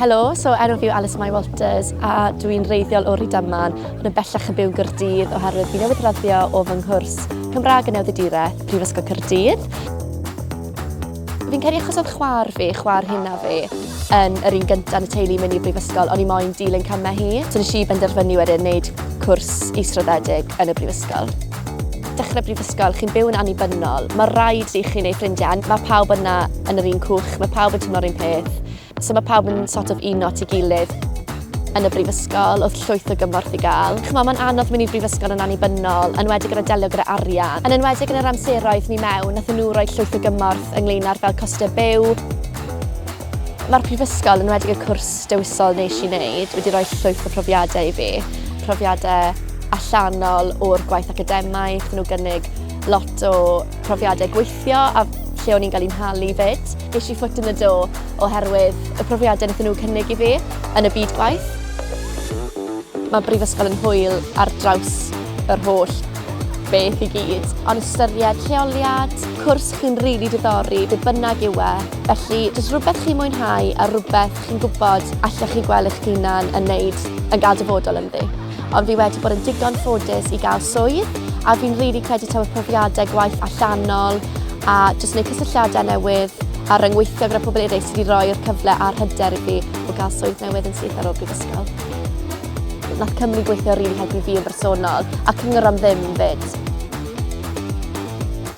Helo, so enw fi yw Alice Mai Walters a dw i'n reiddiol o Rydaman ond yn bellach yn byw yn Gyrdydd oherwydd fi newydd raddio o fy nghwrs Cymraeg yn Newyddiaduraeth, Prifysgol Cyrdydd. Fi'n credu achos oedd chwar fi, chwar hynna fi, yn yr un gyntaf yn y teulu i mynd i brifysgol, o'n i moyn dilyn camau hi. So nes i benderfynu wedyn wneud cwrs israddedig yn y brifysgol. dechrau brifysgol, chi'n byw yn annibynnol, mae rhaid i chi neu ffrindiau, mae pawb yna yn yr un cwch, mae pawb yn tymlo'r un peth, so mae pawb yn sort of un not i gilydd yn y brifysgol, oedd llwyth o gymorth i gael. Chymod, mae'n anodd mynd i'r brifysgol yn annibynnol, yn wedi gyda delio gyda arian. Yn enwedig yn yr amseroedd ni mewn, nath nhw roi llwyth o gymorth ynglyn â'r fel costau byw, Mae'r Prifysgol, yn enwedig y cwrs dewisol nes i wneud, wedi rhoi llwyth o profiadau i fi. Profiadau allanol o'r gwaith academaidd, nhw gynnig lot o profiadau gweithio a lle o'n i'n cael i'n halu fyd. Ges i ffwt yn y do oherwydd y profiadau wnaethon nhw cynnig i fi yn y byd gwaith. Mae Brifysgol yn hwyl ar draws yr holl beth i gyd, ond ystyried lleoliad, cwrs chi'n rili really diddori, be bynnag yw e, Felly, does rhywbeth chi'n mwynhau a rhywbeth chi'n gwybod allech chi gweld eich hunan yn wneud yn gael dyfodol ynddi. Ond fi wedi bod yn digon ffodus i gael swydd a fi'n rili credu taw y profiadau gwaith allanol a jyst wneud cysylltiadau newydd a ryngweithio gyda pobl eraill sydd wedi rhoi'r cyfle a'r hyder i fi o gael swydd newydd yn syth ar ôl brifysgol. Nath Cymru gweithio rili helpu fi yn bersonol a cyngor am ddim 'fyd.